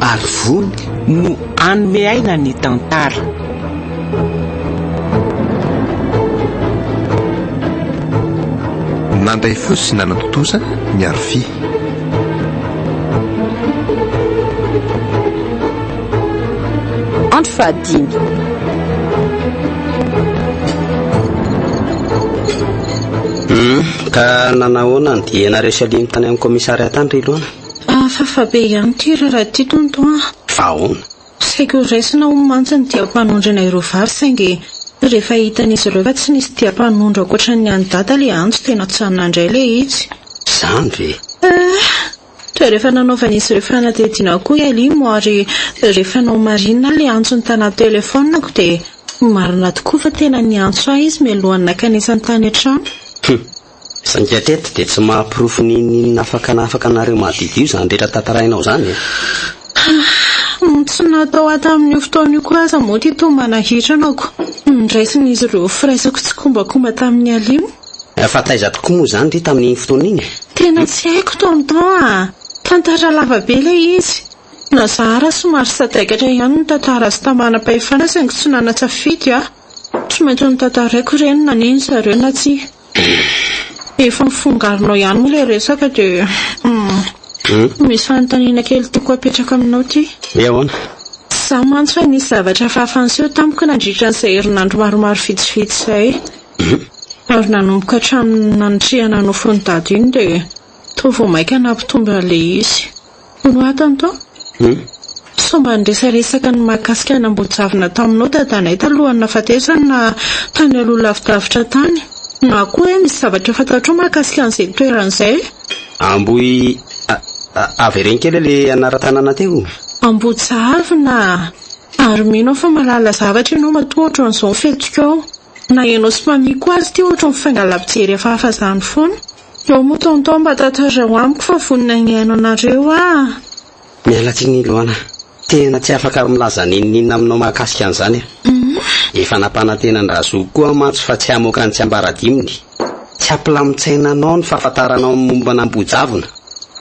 Ary vony no hanome aina ny tantara. Nandray fo sy nanan-tontosa ny Arofia. Andro fahadimy. Humm ka nanahoana ny diena resy alimo tany amin'ny commissariat tany ry Ilona? Hafahafa be ihany ity ry Ratitonto an! Fa ahoana? Saika ho raisina hono mantsy ny diam-panondrana ireo vary saingy rehefa hitan'izy ireo fa tsy nisy diam-panondro ankoatran'ny an'i Dada ilay antso dia natsanina indray ilay izy. Izany ve? Eh! Dia rehefa nanaovan'izy ireo fanadihadiana koa i Alimo ary rehefa nomarihina ilay antsony tany an-telefaoniko dia marina tokoa fa tena niantso ahy izy mialohan'ny nakan'isa ny tany an-trano. Humm! Saingy hatreto dia tsy mahaporofo n'inon'inona afaka na afaka anareo mahadidio izany rehetra tantarainao izany e! Tsy natao hatamin'io fotoana io koa aza moa ity tomana hiranako. Niraisin'izy ireo firaisako tsikombakomba tamin'i Alimo. Fa taiza tokoa moa izany ry tamin'iny fotoana iny e? Tena tsy haiko tonton a! Tantara lava be ilay izy. Na zahara somary sadaikatra ihany ny tantara azo tamana-pahefana saingy tsy nana-tsafidy aho. Tsy maintsy notantaraiko ireny na nino zareo na tsia. Efa mifongarinao ihany moa ilay resaka dia misy fanontaniana kely tiako apetraka aminao ity. Hoe ahoana? Tsy izaho mantsy fa nisy zavatra hafahafa niseho tamiko nandritra an'izay herinandro maromaro vitsivitsy izay. Ary nanomboka hatramin'ny nanitrihana nofy iny daty iny dia toa vao mainka nampitombo an'ilay izy. Roaton to! Sao mba niresaresaka ny mahakasika ny Ambohijavona taminao dadanay talohan'ny nahafatesany na tany aloha lavidavitra tany. Na koa hoe misy zavatra fantatrao mahakasika an'izay toerana izay? Ambohi ah, avereno kely hoe le anaran-tanàna teo? Ambohijavona ah! Ary mino aho fa mahalala zavatra ianao matoa ohatran'izao ny fihetsikao. Na ianao sy Mamie koa aza ity ohatran'ny mifaingan'là mpijery hafahafa izany foana. Eo moa tonton mba tantarao amiko fa vonona hihaino anareo ah. Miala tsiny Loana a! Tena tsy afaka milaza n'inon'inona aminao mahakasika an'izany aho. Efa nampanantena an-dRazoky koa mantsy fa tsy hamoaka ny tsiambaradiminy. Tsy hampilamin-tsaina anao ny fahafantaranao ny momba an'Ambohijavona.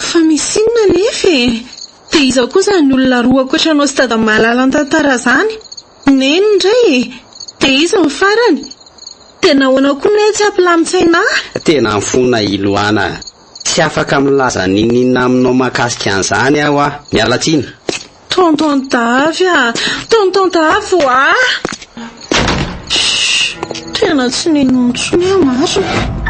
Fa misy inona anefa e? Dia iza koa izany olona roa ankoatra anao sy dada mahalala ny tantara izany? Neny indray e! Dia iza ny farany? Dia nahoana koa ne tsy ampilamin-tsaina ahy? Tena mifona i Loana a! Tsy afaka milaza n'inon'inona aminao mahakasika an'izany aho a! Miala tsiny! Tonton Davy a! Tonton Davy o a! Tena tsy nino intsony aho marina!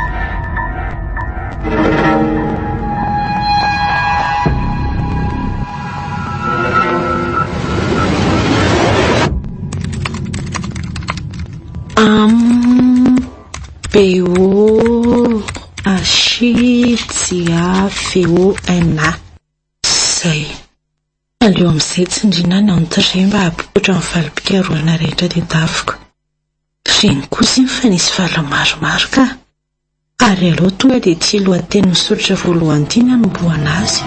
AMBOHASHITSIAFEONA Izay. Aleo amin'izay tsindriana ny entrée mba hahapopotra ny valim-pikarohana rehetra teto Davoko. Reny kosa iny fa nisy vala maromaro ka. Ary aleo tonga dia ity lohateny misoritra voalohany ity ny hanombohana azy.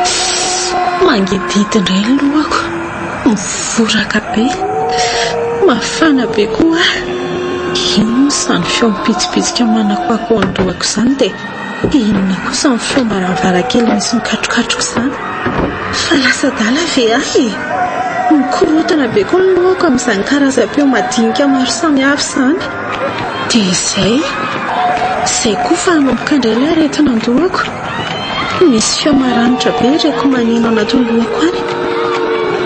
Tss! Mangidihidy indray ny lohako. Mivoraka be, mafana be koa aho. Inona izany feo mipitsipitsika manakoako eo an-dohako izany dia inona kosa ny feom-baravarankely misy mikatrokatroka izany? Fa lasa adala ve ahy e? Mikorontana be koa ny lohako amin'izany karazam-peo madinika maro samihafa izany. Dia izay. Izay koa fa hanomboka indray ilay aretina an-dohako. Misy feo maranitra be reko maneno anatin'ny lohako any.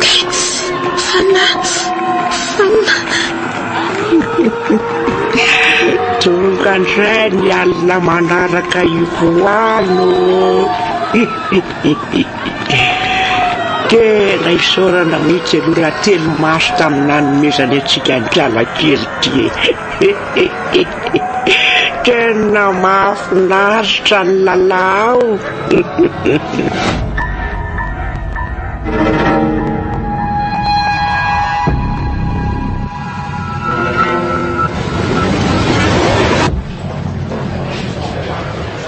Kits! Fanahy! Fanahy! Tonga ndray ny alina manaraka io voan ô! Tena isaorana mihitsy aloha Ratelomaso tamin'ny nanomezany antsika ankiala kely ity e! Tena mahafinaritra ny lalao.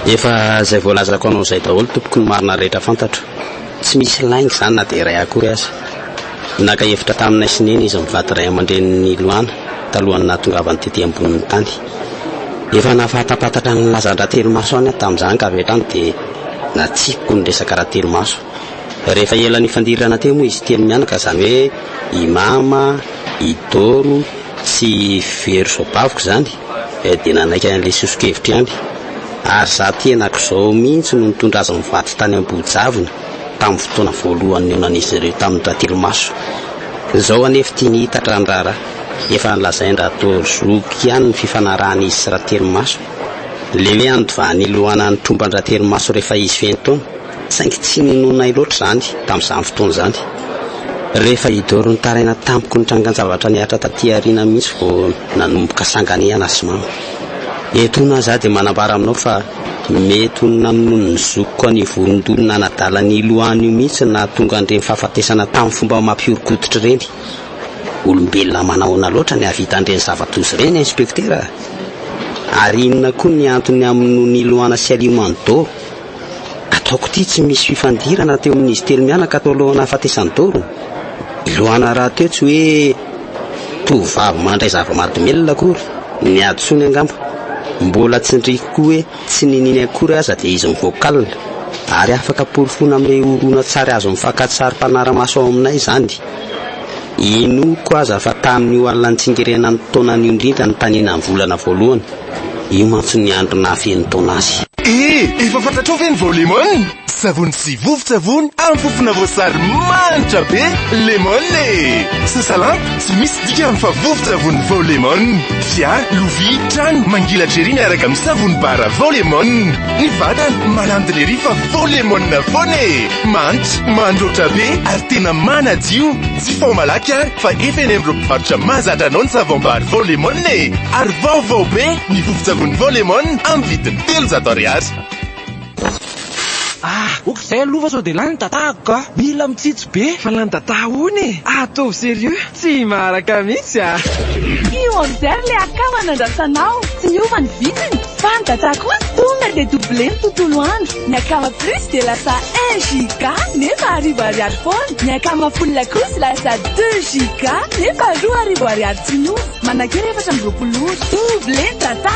Efa izay voalazako anao izay daholo tompoko ny marina rehetra fantatro. Tsy misy lainga izany na dia iray akory aza. Naka hevitra taminay sy Neny izy mivady ray aman-drenin'i Loana talohan'ny nahatongavany tety ambonin'ny tany. Efa nahafantampantatra ny lazan-dRatelomaso any aho tamin'izany ka avy hatrany dia natsipiko ny resaka Ratelomaso. Rehefa ela nifandirana teo moa izy telo mianaka izany hoe i Mama, i Doro sy i Vero zoabaviko izany dia nanaiky an'ilay soso-kevitra ihany. Ary izaho tena akoizao mihitsy no nitondra azy mivady tany Ambohijavona. tamin'ny fotoana voalohany nionan'izy ireo tamin'ny Ratrimaso. Izao anefa tiany hiitatra ny raharaha. Efa nolazain-dRatozoky ihany ny fifanarahan'izy sy Ratrimaso. Le hoe handovany hiloana ny tromban-dRatrimaso rehefa izy feno taona. Saingy tsy ninoanay loatra izany tamin'izany fotoana izany. Rehefa hidoro nitaraina tamiko ny trangan-javatra nihatra taty aoriana mihitsy vao nanomboka sanganehana sy mamo. Eto hono aho za dia manambara aminao fa mety ho nanonono ny zokiko an'io vorondolo nanadala ny ilohany io mihitsy no nahatonga an'ireny fahafatesana tamin'ny fomba mampihoron-koditra ireny. Olombelona manahoana loatra ny hahavita an'ireny zava-doza ireny, Inspektera a! Ary inona koa ny antony hamonoany Iloana sy Alimany doro? Ataoko ity tsy misy fifandirana teo amin'izy telo mianaka tao alohan'ny nahafatesan'i Doro. Ilohana rahateo tsy hoe tovovavy mandray zava-mahadomelina akory, ny hadisoany angamba. Mbola tsindriko koa hoe tsy niniany akory aza dia izy mivoaka alina. Ary afaka porofoina amin'ireo horonantsary azo amin'ny fakantsary mpanara-maso ao aminay izany. Inoako aza fa tamin'io alina nitsingerenan'ny taonany io indrindra nitanenan'ny volana voalohany, io mantsy ny andro nahafeno taona azy. Eh! Efa fantatrao ve ny vao Lemon? Savony sy vovo-tsavony amin'ny fofona voasary manitra be! Lemon e! Sasalampy, tsy misy dikany fa vovo-tsavony vao Lemon! Fiara, lovia, trano, mangilatra ery miaraka amin'ny savony bara vao Lemon! Ny vatana, malandina ery fa vao Lemon foana e! Mantsy, mandroatra be ary tena manadio. Jifao malaky ary fa efa eny amin'ireo mpivarotra mahazatra anao ny savom-bary vao lemon e! Ary vaovao be ny vovon-tsavony vao lemon amin'ny vidiny telonjato ariary. Ah! ok izay aloha fa sao dia lany ny dataako ka! Mila mitsitsy be fa lany data hono e! Ataovy serieux! Tsy maharaka mihitsy a! Tsy order le akama nandrasanao, tsy niova ny vidiny, fa ny dada kosa tonga dia double ny tontolo andro, ny akama plus dia lasa un giga nefa arivo ariary foana, ny akama full kosa lasa deux giga nefa roa arivo ariary tsy niova, manankery efatra amby roapolo ora, double ny data!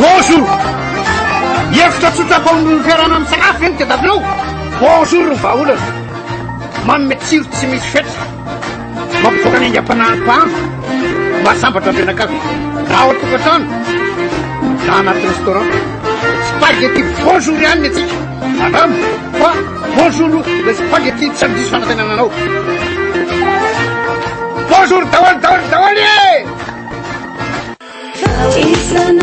Bonjour! Hevitra tsotra atao amin'ny fiarahana misakafo ve ny tedavinao? Bonjour ny vahaolana! Manome tsiro tsy misy fetra, mampivoaka ny aingam-panahin'ny mpahandro, mahasambatra ny fianakavy, na ao an-tokantrano, na anaty restaurant. Spaghetti bonjour ihany ny antsika, andramo fa bonjour ilay spaghetti tsy amin'ny diso fanantenana anao. Bonjour daholo daholo daholo e!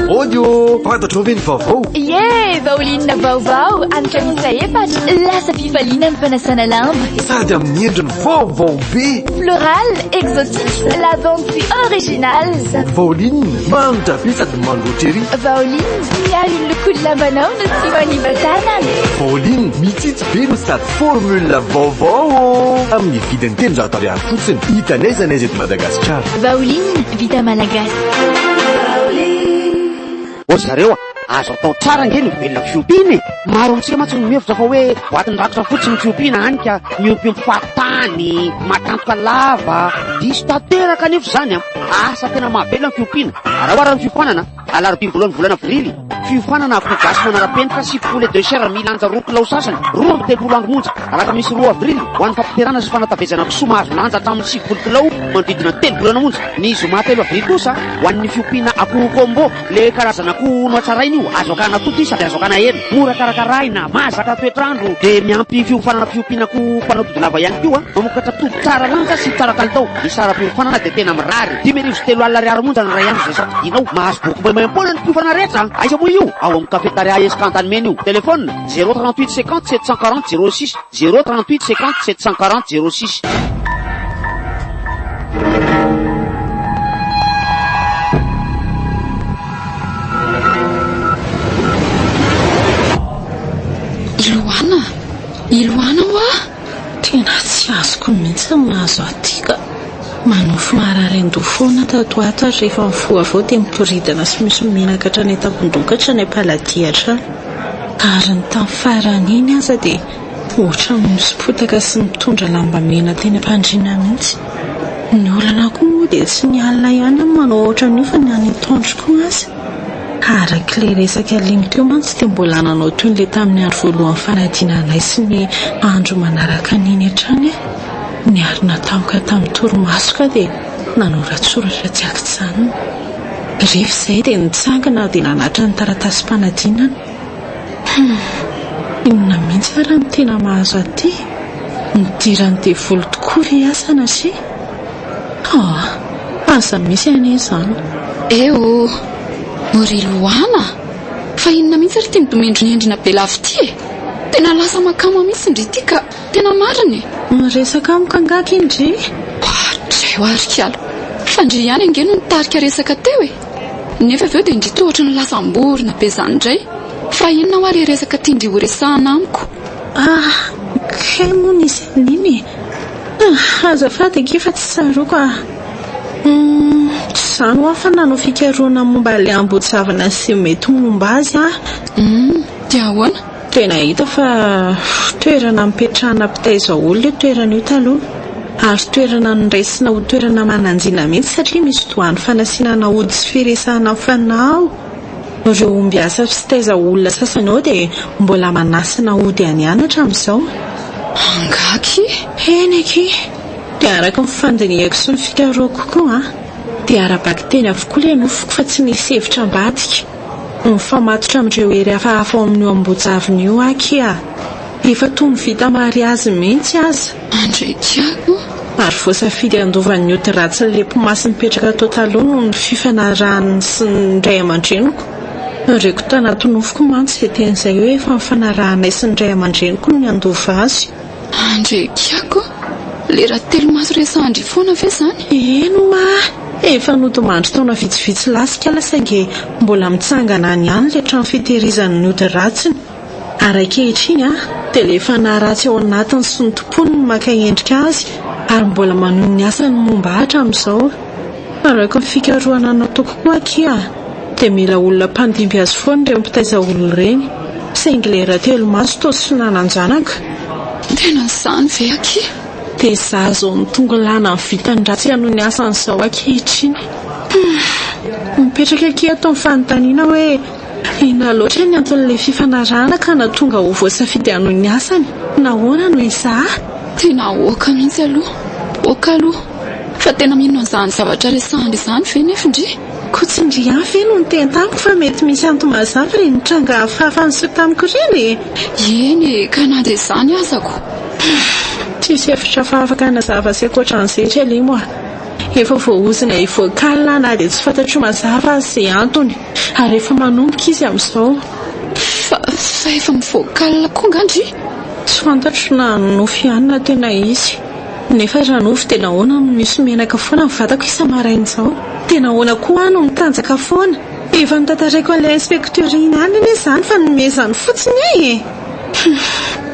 Audio Fantatrao ve ny vaovao? Ie, baolinina vaovao amin'ny kanitra efatra. Lasa fifaliana ny fanasana lamba. Sady amin'ny endriny vaovao be. Floral, exotique, lavande puis original. Baolinina, manitra be sady mangoatra ery. Baolinina, miaro ny lokon'ny lambanao no tsy manimba tanana. Baolinina, mitsitsy be no sady formule vaovao. Amin'ny vidiny telonjato ariary fotsiny. Hita n'aiza n'aiza eto Madagasikara. Vaoline vita malagasy. Ô ry zareo a! Azo atao tsara ange ny mivelona amin'ny fiompiana e! Maro amintsika mantsy no mihevitra fa hoe boatin'ny rakotra fotsiny ny fiompiana hany ka miompiompy fahatany, matantoka lava. Diso tanteraka anefa izany an! Asa tena mahavelona ny fiompiana. Araho ary ny fiofanana. Alarobia voalohan'ny volana Avrily, fiofanana akoho gasy manara-penitra sy poulet de chair milanja roa kilao sasany, roa amby telopolo andro monja, alakamisy roa Avrily, ho an'ny fampiterana sy fanatavezana kisoa mahazo lanja hatramin'ny sivifolo kilao manodidina ny telo volana monja. Ny zoma telo Avrily kosa, ho an'ny fiompiana akoho combo, ilay karazana akoho nohatsaraina io, azo akana totoy sady azo akana hena, mora karakaraina, mahazaka toetr'andro, dia miampy fiofanana fiompiana akoho mpanao tody lava ihany koa, mamokatra tody tsara lanja sy tsara kalitao. Ny saram-piofanana dia tena mirary. Dimy arivo sy telo alina ariary monja ny iray andro izay sady dinao. Mahazo boky maimaimpoana ny mpiofana rehetra an! Aiza moa io? Ao amin'ny Cafetaria Esca Antanimena io. Telephone, zéro trente huit cinquante sept cent quarante zéro six, zéro trente huit cinquante sept cent quarante zéro six. Tena tsy azoko mihitsy ny mahazo aty ka! Manofy mararian-doha foana tato ho ato ary rehefa mifoha avy eo dia miboridana sy misy menaka hatrany an-tampon-doha ka hatrany am-paladia hatrany. Ary ny tamin'ny farany iny aza dia ohatran'ny misy potaka sy mitondra lamba mena teny am-pandriana mihitsy. Ny olana koa moa dia tsy ny alina ihany no manao ohatran'io fa ny any an-tohondro koa aza. Arak'ilay resaka link teo mantsy dia mbola nanao toy ilay tamin'ny andro voalohan'ny fanadinana anay sy ny andro manaraka an'iny hatrany aho. Niarina tampoka tamin'ny torimaso ka dia nanoratsoratra tsy an-kijanona. Rehefa izay dia nitsangana aho dia nanatitra ny taratasim-panadinana. Humm, inona mihitsy ary no tena mahazo ahy ity? Nidiran'ny devoly tokoa ry asa anase. Ah! Aza misy anie izany. Eh oh! Ry Lohana a! Fa inona mihitsy ary ity midonendronendrona be lava ity e! Tena lasa makama mihitsy ndry ity ka! Tena marina e! Miresaka amiko angaha ity ndry? Hatreo ary kiala! Fa ndry ihany ange no nitarika resaka teo e! Nefa avy eo dia ndry toa ohatran'ny lasa am-borona be izany indray! Fa inona hoa ilay resaka tian-dry horesahana amiko? Ah! Kay moa nisy an'iny e! Ah! Azafady ange fa tsy tsaroako ah! Humm! Tsy izany hoa fa nanao fikarohana momba ilay ambohijavana sy ny mety ho momba azy ah! Humm! Dia ahoana? Dia nahita fa toerana nipetrahana mpitaiza olona io toerana io taloha, ary toerana noraisina ho toerana mananjina mihitsy satria misy doany fanasina naody sy firesahana fanao. Ireo ombiasa sy taiza olona sasany ao dia mbola manasana ody any any hatramin'izao. Angaha ki! Eny aky! Dia araka ny fandinihako sy ny fikarohako koa dia ara-baky teny avokoa ilay nofiko fa tsy nisy hevitra ambadika. Mifamatotra amin'ireo hery hafahafa ao amin'io Ambojavona io aky aho. Efa toa ny vita mariazy mihitsy aza. Andrey Tiago, ary voasafidy handovan'ny ody ratsin'ny Lepmasy mipetraka tao taloha noho ny fifanarahany sy ny ray aman-dreniko. Tarihiko tanaty nofoko mantsy izay teny izay hoe efa nifanarahanay sy ny ray aman-dreniko ny handova azy. Andrey Tiago, lera telo maso resahan-dry foana ve izany? Eny oma a! Efa nodimandry taona vitsivitsy lasa ikala saingy mbola mitsangana any ihany ilay trano fitehirizan'ny ody ratsiny. Ary ankehitriny, tena efa naharatsy ao anatiny sy ny tompony ny maka endrika azy ary mbola manohy ny asany momba hatramin'izao. Fandraiko ny fikarohana nataoko koa akia dia mila olona mpandimby azy foana ireny mpitaiza olona ireny, saingy ilay Ratelomaso toa tsy nanan-janaka. Tena izany ve akia? Dia izaho izao mitongo lana ny vitany ratsy hanohy ny asany izao ankehitriny. Mipetraka akia ato ny fanontaniana hoe. Inona loatra ny anton'ilay fifanarahana ka nahatonga ho voasafidy hanohy ny asany? Nahoana no Isaac? Tena aoka mihitsy aloha! Aoka aloha! Fa tena mino an'izany zavatra resahana izany ve ny findry? Koa tsy indry ihany ve no niteny tamiko fa mety misy antony mazava ireny nitranga hafahafa niseho tamiko ireny e? Eny e, ka na dia izany aza koa. Tsisy hevitra hafa afaka hanazava azy ankoatra an'izay ry Alimo a! Efa voaozona hivoaka alina na dia tsy fantatro mazava aza izay antony. Ary efa manomboka izy amin'izao. Fa fa efa mivoaka alina koa nga ndry? Tsy fantatro na nofy ihany na tena izy. Nefa raha nofy dia nahoana no misy menaka foana ny vatako isa-maraina izao? Dia nahoana koa aho no mitanjaka foana? Efa notantaraiko an'ilay inspektera iny ihany anie izany fa nomezany fotsiny ahy e! Humm!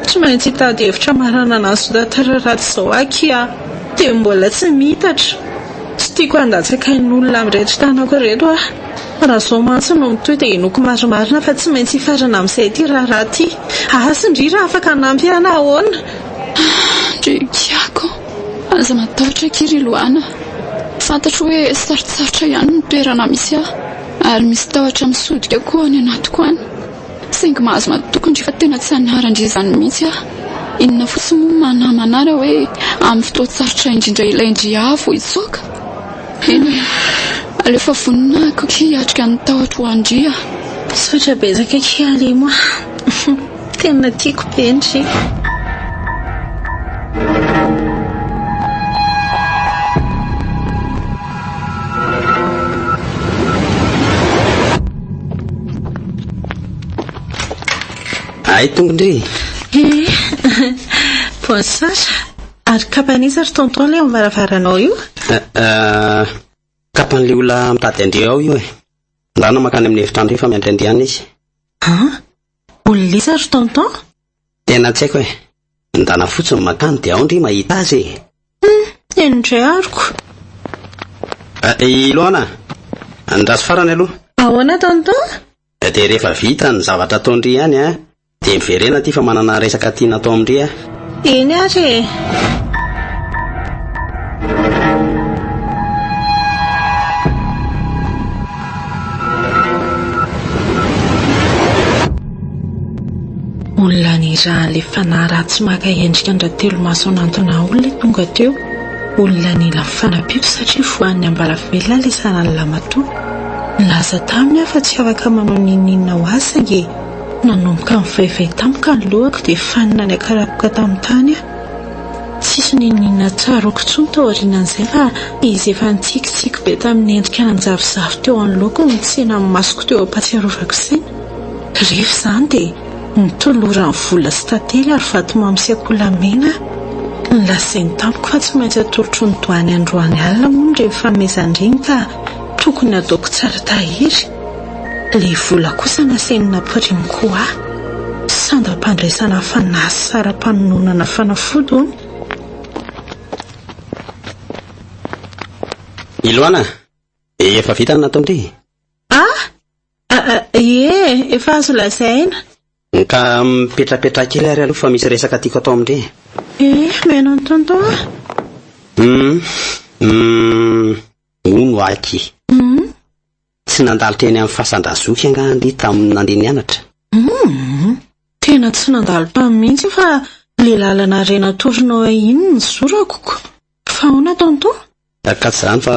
Tsy maintsy hitady hevitra maranana an'izao tantara ratsy izao aky aho. Dia mbola tsy miitatra. Tsy tiako handatsaka ain'olona amin'ireto tanako ireto aho. Raha izao mantsy no mitohy dia henoiko marimarina fa tsy maintsy hifarana amin'izay ity raharaha ity. Aa sindria raha afaka hanampy ahy na ahoana. Aa ry giako aza matahotra akia ry loana a! Fantatro hoe sarotsarotra ihany ny toerana misy ahy ary misy tahotra misodika koa any anatiko any saingy mahazo matoky indry fa tena tsy hanara-ndry izany mihitsy aho. Inona fotsiny moa no maha namana ahy raha hoe amin'ny fotoan-tsarotra indrindra ilay ndry ahy vao hitsoaka? Eny e! Aleo fa vonona aho akia hiatrika ny tahotra ho an-dry a! Misaotra betsaka akia Alimo a! Tena tiako be ndry! Ay tompondry e! Bonsoir! Ary kapan'iza ry tonton le eo amvaravaranao io? Eh, kapan'le olona mitady andeha ao io e. Andrana makany amin'ny efitrano io fa miandry andiana izy. An? Olon'iza ry tonton? Tena tsy haiko e. Andrana fotsiny makany dia ao ndry mahita azy e. Hum, eny ndray aroko. Ah, eh, i Loana, andraso farany aloha. Ahoana tonton? Dia rehefa vita ny zavatra ataon-dry ihany an, Dia miverena aty fa manana resaka tiana atao amin-dry aho. Eny ary e! Olona nirahan'ilay fanahy ratsy maka endrika an-dRatelomaso hanantona olona tonga teo. Olona nila fanampiako satria voan'ny ambaravelona ilay saran'ny lamatoa. Nilaza taminy aho fa tsy afaka manao n'inon'inona ho azy saingy Nanomboka nivaivay tampoka ny lohako dia fanina niakarapoka tamin'ny tany aho. Tsisy ninoninona tsaroako intsony tao aorianan'izay fa izy efa nitsikitsiky be tamin'ny endrika nanjavozavo teo anoloako no nitsena ny masoko teo am-pahatsiarovako saina. Rehefa izany dia nitolorany vola sy tantely ary vatomamy sy akoholamen aho. Nolazainy tamiko fa tsy maintsy atolotro ny doany androany alina moa ny renim-pamehezan-dreny ka tokony ataoko tsara tahiry. Ilay vola kosa nasainina Primcoa, sandam-pandraisana fanasaram-panononana fanafody hono. I Loana, efa vita ny nataony re. Ah! Ie, efa azo lazaina. Ka mipetrapetraha kely ary aloha fa misy resaka tiako atao amin-dry. Eh, miheno an'i Tonton aho. Hum, hum, hono aky. Hum. Tsy nandalo teny amin'ny fasan-dRazoky angaha ndry tamin'ny nandeha nianatra? Humm! Tena tsy nandalo tany mihitsy fa ilay lalana iray natorinao ahy iny no nizorako ko! Fa ahoana Tonton? Ka tsy izany fa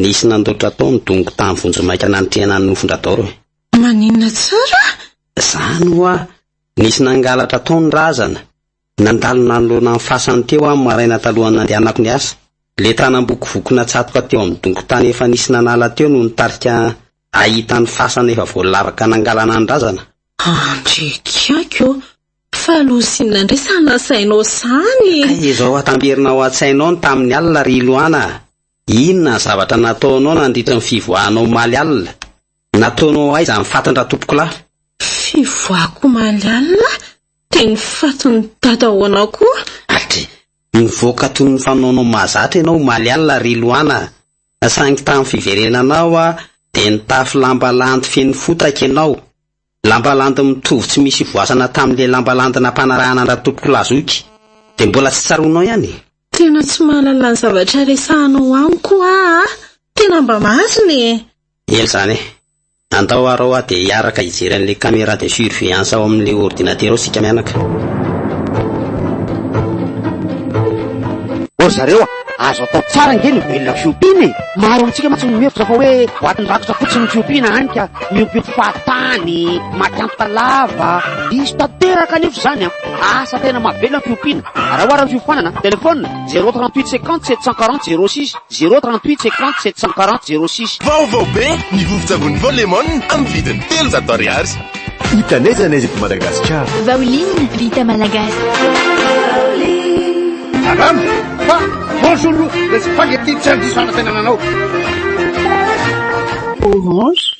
nisy nandoatra tao ny dongo tany vonjimaika nanitrehana ny nofon-dRadaoro e! Maninona tsara? Izany hoa, nisy nangalatra tao ny razana. Nandalo nanoloana ny fasany teo aho ny maraina talohan'ny nandehanako niasa. Ilay tanam-boky voky natsatoka teo amin'ny dongon-tany efa nisy nanala teo no nitarika ahy hahita ny fasana efa voalavaka nangalana ny razana. Andry kiaky ô! Fa lozina indray sa nasainao sahy e! Kay izao atamberina ao an-tsainao ny tamin'ny alina ry Loana a! Inona ny zavatra nataonao nandritra ny fivoahana omaly alina? Nataonao ho aiza ny fatiny Ratompokolahy? Fivoahako omaly alina dia ny fatin'i Dadaoanao koa. Adry! Nivoaka toy ny fanaonao mahazatra ianao omaly alina ry Loana a! Saingy tamin'ny fiverenanao aho dia nitafy lamba landy feno fotaka ianao. Lamba landy mitovy tsy misy ivoasana tamin'ilay lamba landy nampanarahana an-dRatompokolahy zoky. Dia mbola tsy tsaroanao ihany e! Tena tsy mahalala ny zavatra resahanao amiko ho'a a! Tena mba marina e! Ela izany e! Andao arô hoa dia hiaraka hijery an'ilay caméra de surveillance ao amin'ilay ordinatera ao isika mianaka. Ô ry zareo a! Azo atao tsara ange ny mivelona amin'ny fiompiana e! Maro amintsika mantsy no mihevitra fa hoe boatin'ny rakotra fotsiny ny fiompiana hany ka miompiompy fahatany, maty antoka lava. Diso tanteraka anefa izany an! Asa tena mahavelona ny fiompiana. Raha ohatra ny fiofanana, telefaonina, zéro trente huit cinquante sept cent quarante zéro six. Zéro trente huit cinquante sept cent quarante zéro six. Vaovao be ny vovon-tsavony Vao Lemon amin'ny vidiny telonjato ariary. Hita n'aiza n'aiza eto Madagasikara. Vaolin vita malagasy. Madame, fa bonjour le spaghetti tsy handiso hanatenana anao. Orange,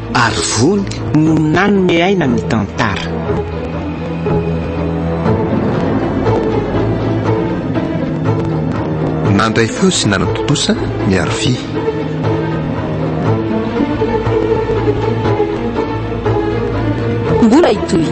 Ary vony no nanome aina ny tantara. Nandray feo sy nanatontosa ny arofia. Mbola hitohy.